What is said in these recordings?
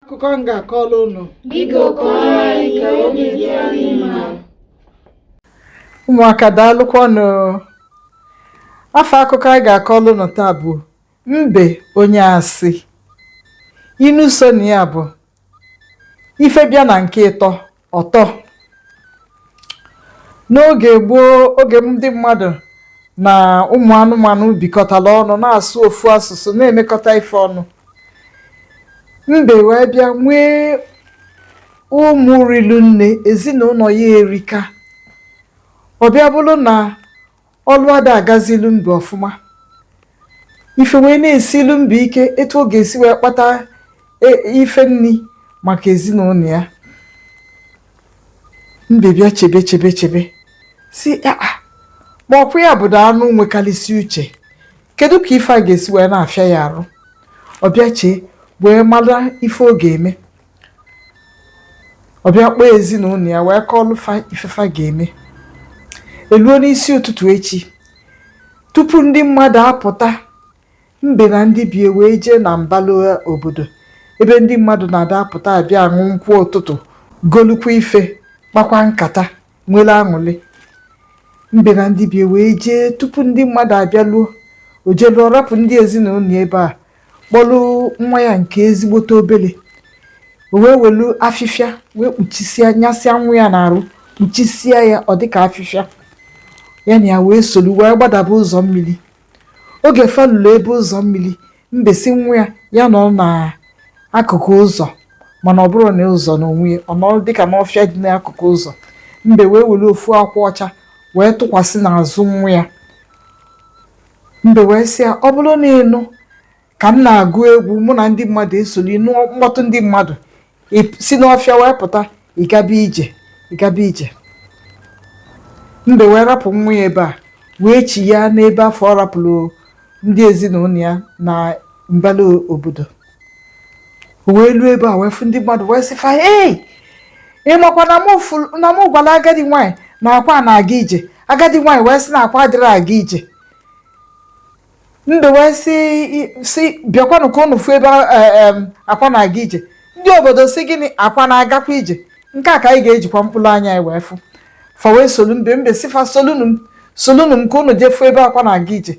akụkọ m ga-akọrọ unu ụmụaka daalụkwanụ afa akụkọ anyị ga-akọrọ unu taa bụ mbe onye asị inu so na ya bụ ife bịa na nke ịtọ ọ tọ n'oge gboo oge ndị mmadụ na ụmụ anụmanụ bikọtara ọnụ na-asụ ofu asụsụ na-emekọta ife ọnụ mbe wee bịa nwee ụmụ rilu nne ezinụlọ ya erika ọ bịa bụrụ na ọlụ ada agazilụ mbe ọfụma ife wee na-esilụ mbe ike etu ọ ga-esi wee kpata e- ife nni maka ezinụlọ ya mbe bịa chebe chebe chebe sị aa ma ọ kwa ya bụdo anụ nwekarịsị uche kedu ka ife a ga-esi wee na-afịa ya arụ ọ bịa chee wee mara ife ọ ga-eme ọ bịa kpọọ ezinụlọ ya wee kọọlụ fa ife fa ga-eme eluo n'isi ụtụtụ echi tupu ndị mmadụ apụta mbe na ndị be ya wee jee na mbala obodo ebe ndị mmadụ na-ada apụta abịa aṅụ nkwụ ụtụtụ golukwa ife kpakwa nkata nwere aṅụlị mbe na ndị be ya wee jee tupu ndị mmadụ abịaluo o jeluo rapụ ndị ezinụlọ ya ebe a kpọlụ nwa ya nke ezigbote obele o wee welu afịfịa wee kpuchisia nyasịa nwa ya n'arụ kpuchisia ya ọ dịka afịfịa ya na ya wee solu wee gbadaba ụzọ mmiri oge fa lulu ebe ụzọ mmiri mbe sị nwa ya ya nọ n'akụkụ ụzọ mana ọ bụrọ na ụzọ n'onwe ya ọ nọrọ dịka n'ọfịa dị n'akụkụ ụzọ mbe wee were ofu akwa ọcha wee tụkwasị n'azụ nwa ya Mbe wee sị ya, Ọ bụrụ na ị nụ ka m na-agụ egwu, mụ na ndị mmadụ esoro, ị nụọ mkpọtụ ndị mmadụ, ị p- si n'ọfịa wee pụta, ị gaba ije, ị gaba ije. Mbe wee rapụ nwa ya ebe a, wee chiya n'ebe afụ ọ rapụrụ ndị ezinụlọ ya na mbala obodo. wee luo ebe a wee fụ ndị mmadụ wee sị fa ei ị makwa na mụ fụrụ na mụ gwara agadi nwaanyị na akwa na-aga ije agadi nwaanyị wee sị na akwa adịrọ aga ije mbe wee sị sị bịakwanụ ka ụnụ fụ ebe eh, em, akwa na-aga ije ndị obodo sị gịnị akwa na-agakwa ije nke a ka anyị ga-ejikwa mkpụrụ anya anyị wee fụ fa wee solu mbe mbe sị fa solunu m solunu m ka ụnụ jee fụ ebe akwa na-aga ije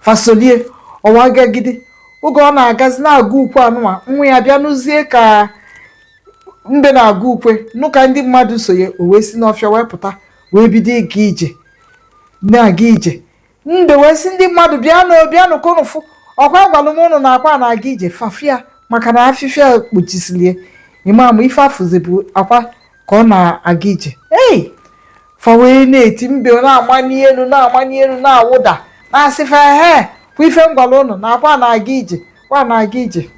fa solie o wee gagide oge ọ na-agazi na-agụ ukwe anụnwa nwa ya bịa nụzie ka mbe na-agụ ukwe nụ ka ndị mmadụ so ya o wee si n'ọfịa wee pụta wee bido ịga ije na-aga ije mbe wee sị ndị mmadụ bịanụ bịanụ ka unu fụ ọ kwa agwalụ m unu na akwa na-aga ije fa fụ ya maka na afịfịa kpuchisili ya ị ma na ife a fụzi bụ akwa ka ọ na-aga ije ei fa wee na-eti mbe na-amanye elu na-amanye elu na-awụda na-asị fa he kwa ife m gwalụ unu na akwa na-aga ije akwa na-aga ije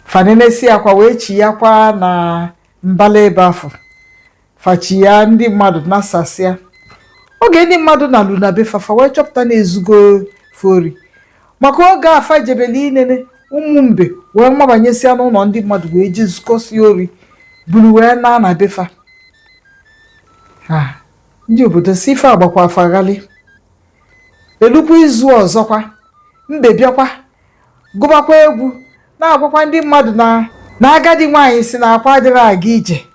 fa nenesịa akwa wee chiyakwa na mbala ebe afụ fa chiya ndị mmadụ nasasịa oge ndị mmadụ nalu na be fa fa wee chọpụta na e zugo fa ori maka oge a fa jebelu inene ụmụ mbe wee mabanyesịa n'ụlọ ndị mmadụ wee jee zukọsịa ori buru wee naa na be fa ha ndị obodo sị ife a gbakwa fa ghalị e lukwa izu ọzọkwa mbe bịakwa gụbakwa egwu na-agwakwa ndị mmadụ na na agadi nwaanyị sị na akwa adịrọ aga ije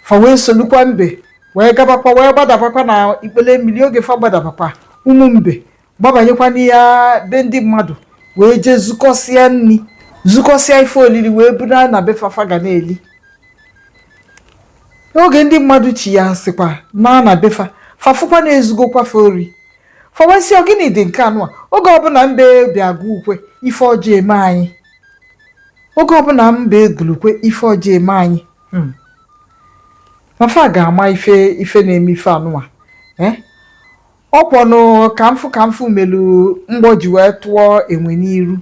fa wee solukwa mbe wee gabakwa wee gbadabakwa na ikpele mmili oge fa gbadabakwa ụmụ mbe gbabanyekwa n'ime be ndị mmadụ wee jee zukọsịa nni zukọsịa ife olili wee buna na be fa fa ga na-eli n'oge ndị mmadụ chiyasịkwa naa na be fa fa fụkwa na e zugokwa fa ori fa wee sị ọ gịnị dị nke anụwa oge ọbụna mbe bịa gụ ukwe ife ọjọọ eme anyị oge ọbụna mbe gụlụ ukwe ife ọjọọ eme anyị Hmm. Fa fa ga-ama ife ife na-eme ife anụwa eh? ọ kwanụ ka m fụ ka m fụ melu mgbọ ji wee tụọ enwe n'iru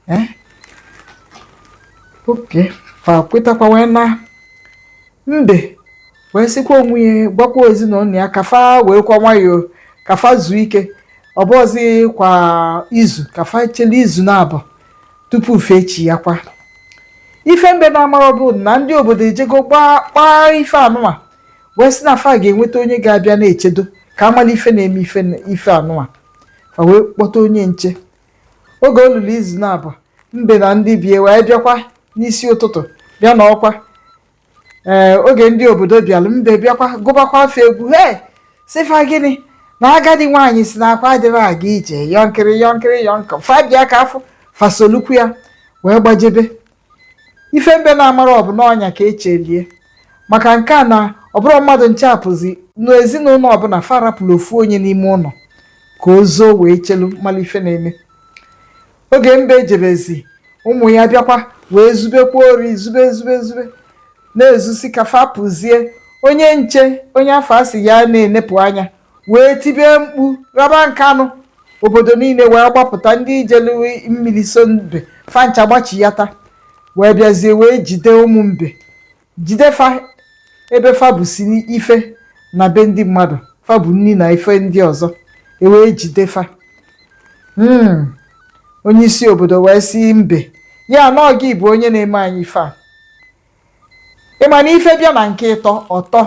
eh? okay fa kwetakwa wee naa mbe wee sịkwa onwe ya gwakwa ezinụnọ ya ka fa weekwa nwayọọ ka fa zuo ike ọ bụzikwa izu ka fa chele izu naabọ tupu fa echiyakwa ife mbe na-amarọ bụ na ndị obodo ejego gbaa kpaa ife anụnwa wee sị na fa ga-enweta onye ga-abịa na-echedo ka a malụ ife na-eme ife ife anụnwa fa wee kpọta onye nche oge o lulu izu naabọ mbe na ndị be ya wee bịakwa n'isi ụtụtụ bịa na ọkwa ee oge ndị obodo bịalụ mbe bịakwa gụbakwa fa egwu hee sị fa gịnị na agadi nwaanyị sị na akwa adịrọ aga ije yọnkịrị yọnkịrị yọnkọ fa bịa ka a fụ fa solukwa ya wee gbajebe ife mbe na-amarọ bụ na ọnya ka e cheli ya maka nke a na ọ bụrọ mmadụ ncha pụzi n'ezinụnọ ọbụna fa rapụlụ ofu onye n'ime ụnọ ka o zoo wee chelu malụ ife na-eme oge mbe jebezi ụmụ ya bịakwa wee zubekwa ori zube zube zube na-ezusị ka fa pụzie onye nche onye afụ a sị ya na-enepụ anya wee tibe mkpu raba nkanụ obodo niine wee gbapụta ndị jelu mmili so mbe fa ncha gbachiyata wee bịazie wee jide ụmụ mbe jide fa ebe fa busi ife na be ndị mmadụ fa bu nni na ife ndị ọzọ e wee jide fa Mm. onye isi obodo wee si mbe ya na ọ gị bụ onye na-eme anyị ife a ị ma na ife bịa na nke ịtọ ọ tọ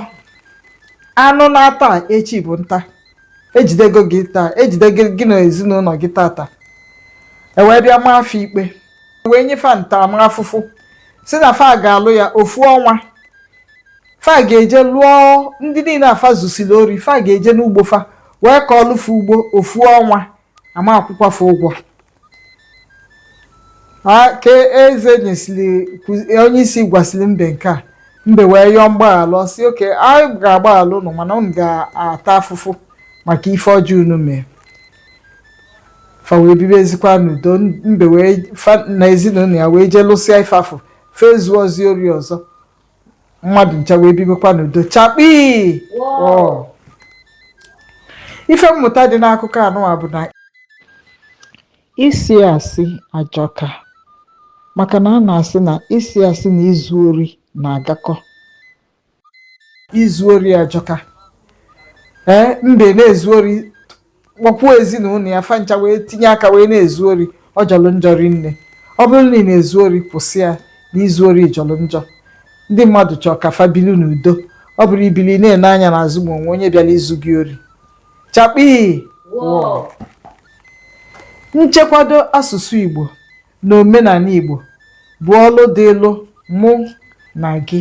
anụ naa taa, echi bụ nta ejidego gị taa ejidego gị na ezinụlọ gị tata e wee bịa maa fa ikpe wee nye fa ntaramafụfụ si na fa ga-alụ ya ofu ọnwa fa ga-eje lụọ ndị niile a fa zusili ori fa ga-eje n'ugbo fa wee kọọlụ fa ugbo ofu ọnwa a ma-akwụkwa fa ụgwọ ka eze nyesiri onye isi gwasịlị mbe nke a mbe wee yọọ mgbaghalụ ọ sị okay anyị ga-agbaghalụ ụnụ mana ụnụ ga-ata afụfụ maka ife ọjọọ unu mee Fa wee bibezikwa n'udo, mbe wee, fa na ezinụlọ ya wee jee lụsịa ife afụ, fa ezuọzi ori ọzọ, mmadụ ncha wee bibekwa n'udo. Chakpii! Wọọ! Ife mmụta dị n'akụkọ anụwa bụ na ịsị asị ajọka maka na a na-asị na ịsị asị na izu ori na-agakọ. izu ori ajọka ee mbe na-ezu ori kpọkwuo ezinụlọ ya fa ncha wee tinye aka wee na-ezu ori ọ jọlụ njọ rinne ọ bụrụ na ị na-ezu ori kwụsị ya na izu ori jọlụ njọ ndị mmadụ chọọ ka fa bili n'udo ọ bụrọ ibili na-ene anya n'azụ ma o nwe onye bịalụ izu gị ori chakpii nchekwado asụsụ Igbo na omenala Igbo bụ ọlụ dịlụ mụ na gị